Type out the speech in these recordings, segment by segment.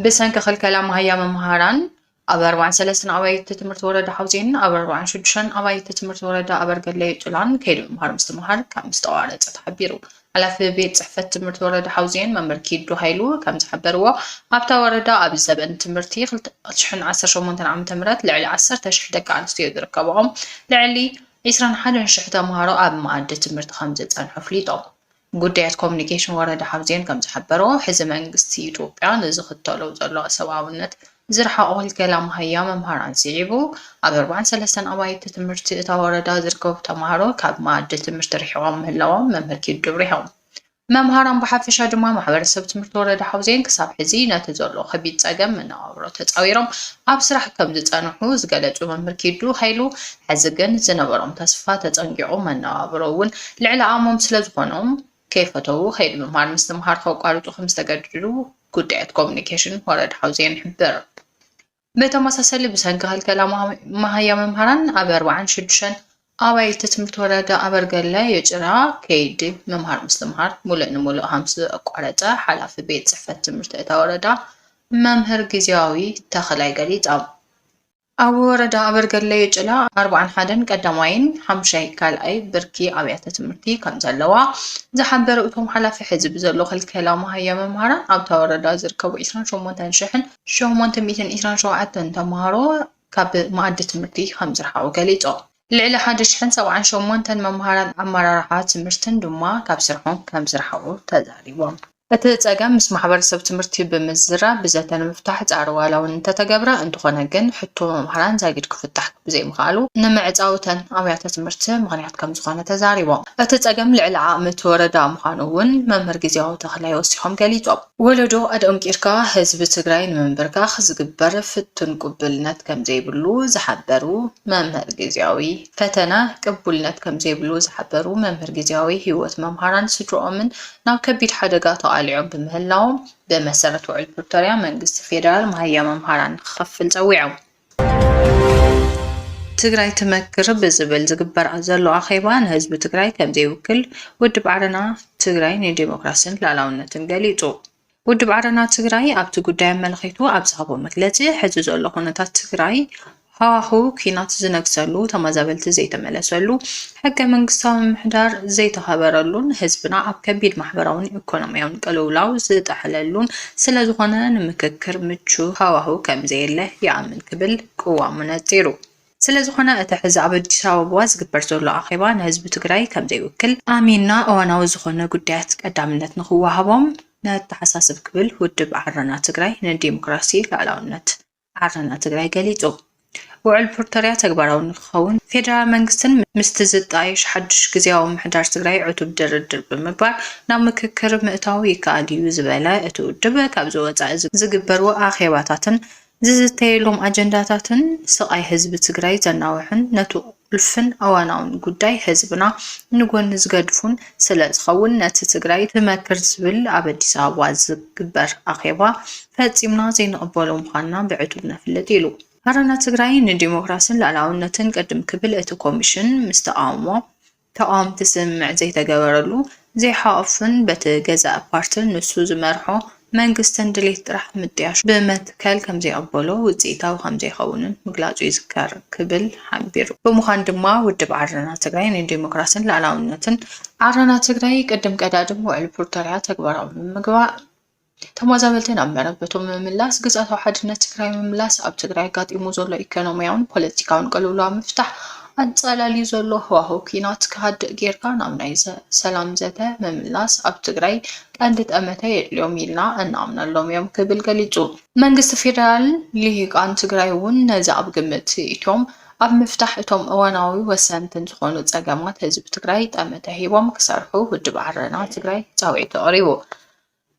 ብሰንኪ ክልከላ መሃያ መምሃራን ኣብ ኣርባዕን ሰለስተን ኣባይቲ ትምህርቲ ወረዳ ሓውዜን ኣብ ኣርባዕን ሽዱሽተን ኣባይቲ ትምህርቲ ወረዳ ኣበርገለ ጭላን ከይዲ ምምሃር ምስትምሃር ካብ ምስተቋረፀ ተሓቢሩ። ሓላፊ ቤት ፅሕፈት ትምህርቲ ወረዳ ሓውዜን መምህር ኪዱ ሃይሉ ከምዝሓበርዎ፣ ኣብታ ወረዳ ኣብዚ ዘበን ትምህርቲ ክልተ ሽሕን ዓሰርተ ሸሞንተን ዓመተ ምህረት ልዕሊ ዓሰርተ ሽሕ ደቂ ኣንስትዮ ዝርከበኦም ልዕሊ ዒስራን ሓደን ሽሕ ተምሃሮ ኣብ መኣዲ ትምህርቲ ከምዝፀንሑ ኣፍሊጦም። ጉዳያት ኮሙኒኬሽን ወረዳ ሓውዜን ከምዝሓበሮ፣ ሕዚ መንግስቲ ኢትዮጵያ ንዝኽተሎ ዘሎ ሰብኣውነት ዝረሓቖ ሂልኬላ መሃያ መምሃራን ስዒቡ፣ ኣብ ኣርባዓን ሰለስተን ኣባይቲ ትምህርቲ እታ ወረዳ ዝርከቡ ተማሃሮ ካብ መኣዲ ትምህርቲ ርሒቖም ምህላዎም መምህር ኪዱ ኣብሪሆም። መምሃራን ብሓፈሻ ድማ ማሕበረሰብ ትምህርቲ ወረዳ ሓውዜን ክሳብ ሕዚ ነቲ ዘሎ ከቢድ ፀገም መነባብሮ ተፃዊሮም ኣብ ስራሕ ከምዝፀንሑ ዝገለፁ መምህር ኪዱ ሃይሉ ሕዚ ግን ዝነበሮም ተስፋ ተፀንጊቑ መነባብሮ እውን ልዕሊ ኣእሞም ስለዝኾኖም ከይፈተዉ ከይዲ ምምሃር ምስትምሃር ከቋርፁ ከምዝተገደዱ ጉዳያት ኮሙኒኬሽን ወረዳ ሓውዜን ይሕብር። ብተመሳሰሊ ብሰንኪ ክልከላ መሃያ መምህራን ኣብ ኣርባዓን ሽዱሽተን ኣባይቲ ትምህርቲ ወረዳ ኣበርገለ የጭራ ከይዲ ምምሃር ምስትምሃር ሙሉእ ንሙሉእ ከምዝተቋረፀ ሓላፊ ቤት ፅሕፈት ትምህርቲ እታ ወረዳ መምህር ግዜያዊ ተኽላይ ገሊፆም። ኣብ ወረዳ ኣበርገለ የጭላ ኣርብዓን ሓደን ቀዳማይን ሓሙሻይ ካልኣይ ብርኪ ኣብያተ ትምህርቲ ከምዘለዋ ዝሓበሩ እቶም ሓላፊ ሕዚ ብዘሎ ክልከላ መሃያ መምሃራን ኣብታ ወረዳ ዝርከቡ ዕስራን ሸሞንተን ሽሕን ሸሞንተ ሚእትን ዕስራን ሸውዓተን ተምሃሮ ካብ መኣዲ ትምህርቲ ከምዝረሓቑ ገሊፆም። ልዕሊ ሓደ ሽሕን ሰብዓን ሸሞንተን መምሃራን ኣመራርሓ ትምህርትን ድማ ካብ ስርሖም ከምዝረሓቑ ተዛሪቦም። እቲ ፀገም ምስ ማሕበረሰብ ትምህርቲ ብምዝራብ ብዘተ ንምፍታሕ ፃዕሪ ዋላ ውን እንተተገብረ እንተኾነ ግን ሕቶ መምሃራን ዛጊድ ክፍታሕ ብዘይምኽኣሉ ንምዕፃው እተን ኣብያተ ትምህርቲ ምኽንያት ከምዝኾነ ተዛሪቦም። እቲ ፀገም ልዕሊ ዓቕሚ እቲ ወረዳ ምዃኑ ውን መምህር ግዝያዊ ተኽላይ ወሲኾም ገሊፆም። ወለዶ ኣደኦም ቂርካ ህዝቢ ትግራይ ንምምብርካኽ ዝግበር ፍቱን ቅቡልነት ከምዘይብሉ ዝሓበሩ መምህር ግዝያዊ ፈተና ቅቡልነት ከምዘይብሉ ዝሓበሩ መምህር ግዝያዊ ህይወት መምሃራን ስድርኦምን ናብ ከቢድ ሓደጋ ተቓሊዖም ብምህላዎም ብመሰረት ውዕል ፕሪቶርያ መንግስቲ ፌደራል ማሃያ መምሃራን ንክኸፍል ፀዊዖም። ትግራይ ትመክር ብዝብል ዝግበር ዘሎ ኣኼባ ንህዝቢ ትግራይ ከምዘይውክል ውድብ ዓረና ትግራይ ንዴሞክራስን ሉኣላውነትን ገሊፁ። ውድብ ዓረና ትግራይ ኣብቲ ጉዳይ ኣመልኺቱ ኣብ ዝሃቦ መግለፂ ሕዚ ዘሎ ኩነታት ትግራይ ሃዋህው ኲናት ዝነግሰሉ፣ ተመዛበልቲ ዘይተመለሰሉ፣ ሕገ መንግስታዊ ምምሕዳር ዘይተኸበረሉን ህዝብና ኣብ ከቢድ ማሕበራውን ኢኮኖሚያውን ቅልውላው ዝጠሓለሉን ስለዝኾነ ንምክክር ምቹው ሃዋህው ከምዘየለ ይኣምን ክብል ቅዋሙ ነፂሩ። ስለዝኾነ እቲ ሕዚ ኣብ ኣዲስ ኣበባ ዝግበር ዘሎ ኣኼባ ንህዝቢ ትግራይ ከምዘይውክል ኣሚንና እዋናዊ ዝኾነ ጉዳያት ቀዳምነት ንኽወሃቦም ነተሓሳስብ ክብል ውድብ ዓረና ትግራይ ንዴሞክራሲ፣ ልኣላውነት። ዓረና ትግራይ ገሊፁ። ውዕል ፕርቶርያ ተግባራዊ ንክኸውን ፌደራል መንግስትን ምስቲ ዝጣየሽ ሓዱሽ ግዝያዊ ምሕዳር ትግራይ ዕቱብ ድርድር ብምግባር ናብ ምክክር ምእታው ይከኣል ኢዩ ዝበለ እቲ ውድብ፣ ካብዚ ወፃኢ ዝግበሩ ኣኼባታትን ዝዝተየሎም ኣጀንዳታትን ስቓይ ህዝቢ ትግራይ ዘናውሕን ነቱ ሕሉፍን እዋናውን ጉዳይ ህዝብና ንጎኒ ዝገድፉን ስለ ዝኸውን ነቲ ትግራይ ትመክር ዝብል ኣብ ኣዲስ ኣበባ ዝግበር ኣኼባ ፈፂምና ዘይንቕበሎ ምዃንና ብዕቱብ ነፍልጥ ኢሉ። ዓረና ትግራይ ንዲሞክራስን ልኣላውነትን ቅድም ክብል እቲ ኮሚሽን ምስ ተቓውሞ ተቓወምቲ ስምምዕ ዘይተገበረሉ ዘይሓቑፍን በቲ ገዛኢ ፓርትን ንሱ ዝመርሖ መንግስትን ድሌት ጥራሕ ምጥያሹ ብመትከል ከምዘይቕበሎ ውፅኢታዊ ከምዘይኸውንን ምግላፁ ይዝከር ክብል ሓቢሩ። ብምዃን ድማ ውድብ ዓረና ትግራይ ንዴሞክራሲን ልኣላዊነትን ዓረና ትግራይ ቅድም ቀዳድም ውዕሊ ፕሪቶርያ ተግባራዊ ንምግባር፣ ተመዛበልቲ ናብ መረበቶም ምምላስ፣ ግዝኣታዊ ሓድነት ትግራይ ምምላስ፣ ኣብ ትግራይ ኣጋጢሙ ዘሎ ኢኮኖሚያውን ፖለቲካውን ቅልውላው ምፍታሕ፣ ኣንፀላልዩ ዘሎ ህዋህው ኲናት ክሃድእ ገይርካ ናብ ናይ ሰላም ዘተ ምምላስ ኣብ ትግራይ ቀንዲ ጠመተ የድልዮም ኢልና እንኣምነሎም እዮም ክብል ገሊፁ። መንግስቲ ፌደራልን ልሂቃን ትግራይ እውን ነዚ ኣብ ግምት እትዮም ኣብ ምፍታሕ እቶም እዋናዊ ወሰንትን ዝኾኑ ፀገማት ህዝቢ ትግራይ ጠመተ ሂቦም ክሰርሑ ውድብ ዓረና ትግራይ ፃውዒቱ ኣቕሪቡ።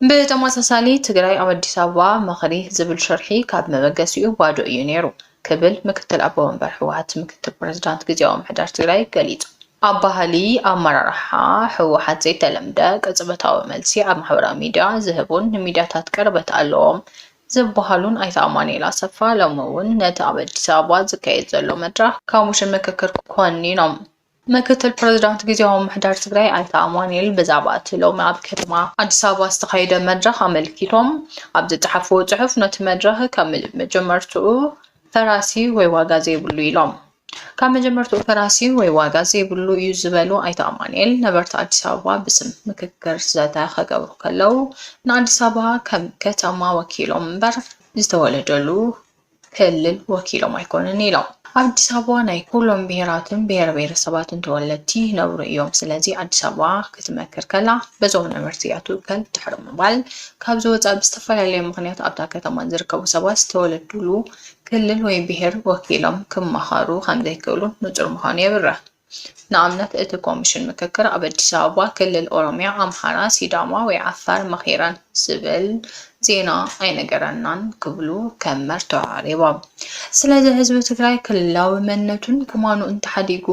ብተመሳሳሊ ትግራይ ኣብ ኣዲስ ኣበባ ምኽሪ ዝብል ሽርሒ ካብ መበገሲኡ ባዶ እዩ ነይሩ ክብል ምክትል ኣቦ መንበር ህወሓት ምክትል ፕረዚዳንት ግዝያዊ ምምሕዳር ትግራይ ገሊፁ። ኣብ ባህሊ ኣመራርሓ ህወሓት ዘይተለምደ ቅፅበታዊ መልሲ ኣብ ማሕበራዊ ሚዲያ ዝህቡን ንሚዲያታት ቅርበት ኣለዎም ዝበሃሉን ኣይተ ኣማኑኤል ኣሰፋ ሎሚ እውን ነቲ ኣብ ኣዲስ ኣበባ ዝካየድ ዘሎ መድረኽ ኮሚሽን ምክክር ኮኒኖም። ምክትል ፕረዚዳንት ግዚያዊ ምምሕዳር ትግራይ ኣይተ ኣማኑኤል ብዛዕባ እቲ ሎሚ ኣብ ከተማ ኣዲስ ኣበባ ዝተኻየደ መድረኽ ኣመልኪቶም ኣብ ዝፀሓፍዎ ፅሑፍ ነቲ መድረኽ ካብ መጀመርትኡ ፈራሲ ወይ ዋጋ ዘይብሉ ኢሎም። ካብ መጀመርትኡ ፈራሲ ወይ ዋጋ ዘይብሉ እዩ ዝበሉ ኣይተ ኣማኑኤል ነበርቲ ኣዲስ ኣበባ ብስም ምክክር ዘተ ከገብሩ ከለው ንኣዲስ ኣበባ ከም ከተማ ወኪሎም እምበር ዝተወለደሉ ክልል ወኪሎም ኣይኮኑን ኢሎም። ኣብ ኣዲስ ኣበባ ናይ ኩሎም ብሄራትን ብሄረ ብሄረሰባትን ተወለድቲ ይነብሩ እዮም። ስለዚ ኣዲስ ኣበባ ክትመክር ከላ በዞም ነበርቲ እያ ትውከል ድሕሪ ምባል ካብዚ ወፃኢ ብዝተፈላለየ ምኽንያት ኣብታ ከተማ ዝርከቡ ሰባት ዝተወለዱሉ ክልል ወይ ብሄር ወኪሎም ክማኸሩ ከምዘይክእሉ ንፁር ምዃኑ የብርህ። ንኣብነት እቲ ኮሚሽን ምክክር ኣብ ኣዲስ ኣበባ፣ ክልል ኦሮሚያ፣ ኣምሓራ፣ ሲዳማ ወይ ዓፋር መኺረን ዝብል ዜና ኣይነገረናን ክብሉ ከም መርትዖ ኣቕሪቦም። ስለዚ ህዝቢ ትግራይ ክልላዊ መንነቱን ከማኑኡን ተሓዲጉ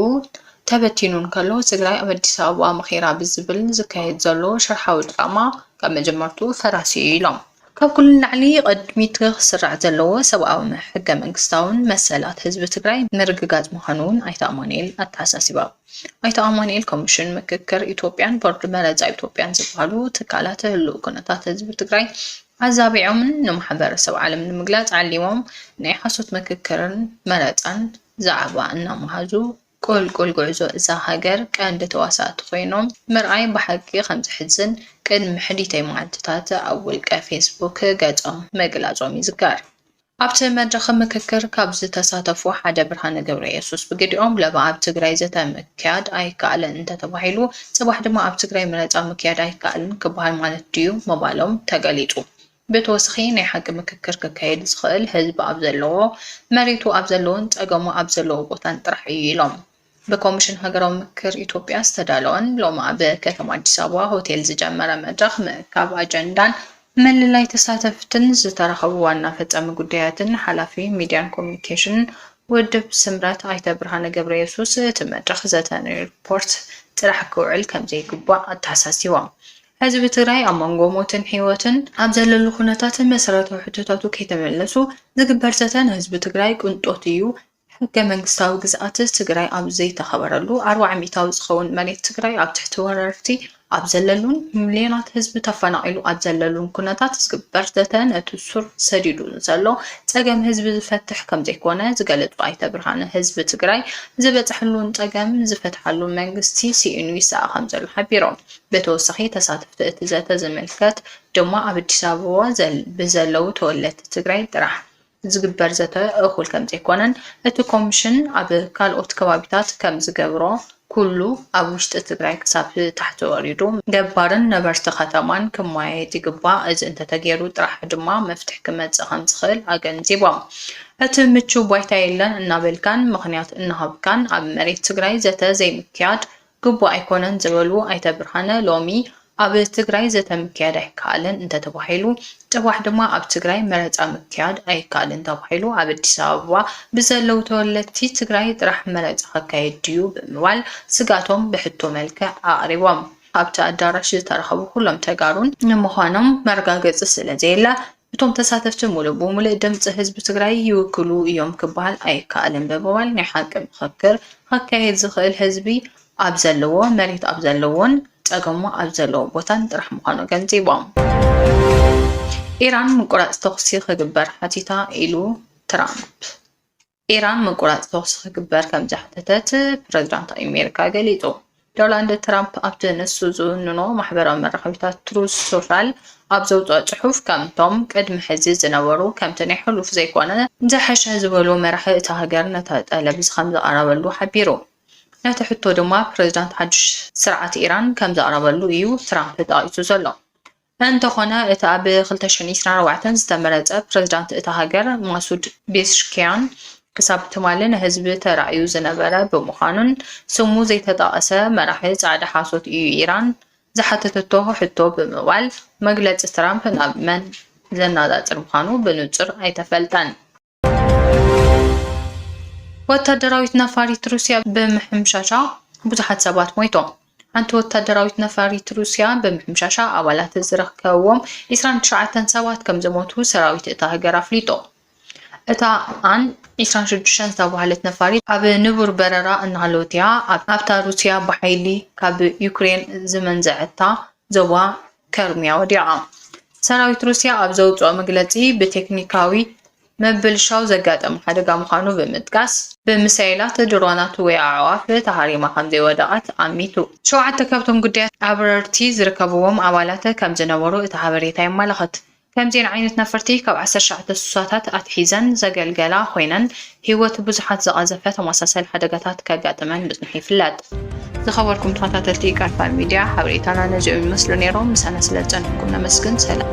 ተበቲኑ እንከሎ ትግራይ ኣብ ኣዲስ ኣበባ መኺራ ብዝብል ዝካየድ ዘሎ ሽርሓዊ ድራማ ካብ መጀመርትኡ ፈራሲ'ዩ ኢሎም። ካብ ኩሉ ንላዕሊ ቐድሚት ክስራዕ ዘለዎ ሰብኣውን ሕገ መንግስታውን መሰላት ህዝቢ ትግራይ ምርግጋፅ ምዃኑ እውን ኣይተ ኣማኑኤል ኣተሓሳሲቦም። ኣይተ ኣማኑኤል ኮሚሽን ምክክር ኢትዮጵያን ቦርድ መረፃ ኢትዮጵያን ዝበሃሉ ትካላት ህሉው ኩነታት ህዝቢ ትግራይ ኣዛቢዖምን ንማሕበረሰብ ዓለም ንምግላፅ ዓሊሞም ናይ ሓሶት ምክክርን መረፃን ዛዕባ እናመሃዙ ቁልቁል ጉዕዞ እዛ ሃገር ቀንዲ ተዋሳእቲ ኮይኖም ምርኣይ ብሓቂ ከም ዘሕዝን ቅድሚ ሕዲተይ መዓልቲታት ኣብ ውልቀ ፌስቡክ ገፆም ምግላፆም ይዝከር። ኣብቲ መድረኽ ምክክር ካብ ዝተሳተፉ ሓደ ብርሃነ ገብረየሱስ ብግዲኦም ለባ ኣብ ትግራይ ዘተ ምክያድ ኣይከኣልን እንተተባሂሉ ፅባሕ ድማ ኣብ ትግራይ መረፃ ምክያድ ኣይከኣልን ክበሃል ማለት ድዩ ምባሎም ተገሊፁ። ብተወስኺ ናይ ሓቂ ምክክር ክካየድ ዝኸእል ህዝቢ ኣብ ዘለዎ፣ መሬቱ ኣብ ዘለዎን ጸገሙ ኣብ ዘለዎ ቦታን ጥራሕ እዩ ኢሎም። ብኮሚሽን ሃገራዊ ምክክር ኢትዮጵያ ዝተዳለወን ሎሚ ኣብ ከተማ ኣዲስ ኣበባ ሆቴል ዝጀመረ መድረኽ ምእካብ ኣጀንዳን ምልላይ ተሳተፍትን ዝተረኸቡ ዋና ፈጻሚ ጉዳያትን ሓላፊ ሚድያን ኮሚኒኬሽንን ውድብ ስምረት ኣይተ ብርሃነ ገብረየሱስ እቲ መድረኽ ዘተ ንሪፖርት ጥራሕ ክውዕል ከምዘይግባእ ኣተሓሳሲቦም። ህዝቢ ትግራይ ኣብ መንጎ ሞትን ሕይወትን ኣብ ዘለሉ ኩነታት መሰረታዊ ሕቶታቱ ከይተመለሱ ዝግበር ዘተ ንህዝቢ ትግራይ ቅንጦት እዩ፣ ሕገ መንግስታዊ ግዝኣት ትግራይ ኣብ ዘይተኸበረሉ፣ ኣርብዓ ሚኢታዊ ዝኸውን መሬት ትግራይ ኣብ ትሕቲ ወረርቲ ኣብ ዘለሉን ሚልዮናት ህዝቢ ተፈናቒሉ ኣብ ዘለሉን ኩነታት ዝግበር ዘተ ነቲ ሱር ሰዲዱ ንዘሎ ፀገም ህዝቢ ዝፈትሕ ከምዘይኮነ ዝገለፁ ኣይተ ብርሃነ ህዝቢ ትግራይ ዝበፀሐሉን ፀገም ዝፈትሓሉን መንግስቲ ስኢኑ ይሰኣ ከምዘሎ ሓቢሮም። ብተወሳኺ ተሳተፍቲ እቲ ዘተ ዝምልከት ድማ ኣብ ኣዲስ ኣበባ ብዘለዉ ተወለድቲ ትግራይ ጥራሕ ዝግበር ዘተ እኹል ከምዘይኮነን እቲ ኮምሽን ኣብ ካልኦት ከባቢታት ከምዝገብሮ ኩሉ ኣብ ውሽጢ ትግራይ ክሳብ ታሕቲ ወሪዱ ገባርን ነበርቲ ከተማን ክመያየጥ ይግባእ፣ እዚ እንተተገይሩ ጥራሕ ድማ መፍትሒ ክመፅእ ከምዝኽእል ኣገንዚቦም። እቲ ምቹው ባይታ የለን እናበልካን ምኽንያት እናሃብካን ኣብ መሬት ትግራይ ዘተ ዘይምክያድ ግቡእ ኣይኮነን ዝበሉ ኣይተ ብርሃነ፣ ሎሚ ኣብ ትግራይ ዘተ ምክያድ ኣይከኣልን እንተተባሂሉ ፅባሕ ድማ ኣብ ትግራይ መረፃ ምክያድ ኣይከኣልን ተባሂሉ ኣብ ኣዲስ ኣበባ ብዘለው ተወለድቲ ትግራይ ጥራሕ መረፃ ክካየድ ድዩ ብምባል ስግኣቶም ብሕቶ መልክዕ ኣቕሪቦም። ኣብቲ ኣዳራሽ ዝተረኸቡ ኩሎም ተጋሩን ንምዃኖም መረጋገፂ ስለዘየለ እቶም ተሳተፍቲ ሙሉእ ብሙልእ ድምፂ ህዝቢ ትግራይ ይውክሉ እዮም ክበሃል ኣይከኣልን ብምባል ናይ ሓቂ ምኽክር ኸካየድ ዝኽእል ህዝቢ ኣብ ዘለዎ፣ መሬት ኣብ ዘለዎን ፀገሙ ኣብ ዘለዎ ቦታን ጥራሕ ምዃኑ ኣገንዚቦም። ኢራን ምቁራፅ ተኹሲ ክግበር ሓቲታ ኢሉ ትራምፕ። ኢራን ምቁራጽ ተኹሲ ክግበር ከም ዝሓተተት ፕረዚዳንት ኣሜሪካ ገሊጹ። ዶላንድ ትራምፕ ኣብቲ ንሱ ዝውንኖ ማሕበራዊ መራኸቢታት ትሩዝ ሶሻል ኣብ ዘውጽኦ ጽሑፍ ከምቶም ቅድሚ ሕዚ ዝነበሩ ከምቲ ናይ ሕሉፍ ዘይኮነ፣ ዝሐሸ ዝበሎ መራሒ እታ ሃገር ነቲ ጠለብ'ዚ ከም ዘቕረበሉ ሓቢሩ። ነቲ ሕቶ ድማ ፕረዚዳንት ሓድሽ ስርዓት ኢራን ከም ዘቕረበሉ እዩ ትራምፕ ጠቒሱ ዘሎ። እንተኾነ እቲ ኣብ ክልተ ሽሕን ዒስራን ኣርባዕተን ዝተመረጸ ፕረዚዳንት እታ ሃገር ማሱድ ቤዝሽኪያን ክሳብ ትማሊ ንህዝቢ ተራእዩ ዝነበረ ብምዃኑን ስሙ ዘይተጣቕሰ መራሒ ጻዕዳ ሓሶት እዩ ኢራን ዝሓተተቶ ሕቶ ብምባል መግለጺ ትራምፕ ናብ መን ዘናጻጽር ምዃኑ ብንጹር ኣይተፈልጠን። ወታደራዊት ነፋሪት ሩስያ ብምሕምሻሻ ብዙሓት ሰባት ሞይቶም። ሓንቲ ወታደራዊት ነፋሪት ሩስያ ብምሕምሻሻ ኣባላት ዝርከብዎም ዒስራን ትሽዓተን ሰባት ከም ዝሞቱ ሰራዊት እታ ሃገር ኣፍሊጡ። እታ ኣን ዒስራን ሽዱሽተን ዝተባህለት ነፋሪት ኣብ ንቡር በረራ እናሃለወት'ያ ኣብታ ሩስያ ብሓይሊ ካብ ዩክሬን ዝመንዘዐታ ዞባ ከርሚያ ወዲቓ። ሰራዊት ሩስያ ኣብ ዘውጽኦ መግለጺ፣ ብቴክኒካዊ ምብልሻው ዘጋጠመ ሓደጋ ምዃኑ ብምጥቃስ፣ ብሚሳይላት፣ ድሮናት ወይ ኣዕዋፍ ተሃሪማ ከምዘይወደቐት ኣሚቱ። ሸውዓተ ካብቶም ግዳያት ኣብረርቲ ዝርከብዎም ኣባላት ከምዝነበሩ እቲ ሓበሬታ የመላኽት። ከምዚኤን ዓይነት ነፈርቲ ካብ ዓሰርተ ትሽዓተ ሱሳታት ኣትሒዘን ዘገልገላ ኮይነን፣ ህይወት ብዙሓት ዝቐዘፈ ተመሳሳሊ ሓደጋታት ከጋጥመን ምጽንሑ ይፍለጥ። ዝኸበርኩም ተኸታተልቲ ቃልፋል ሚድያ፣ ሓበሬታና ነዚኦም ይመስሉ ነይሮም። ምሳና ስለዝጸንሕኩም ነመስግን። ሰላም።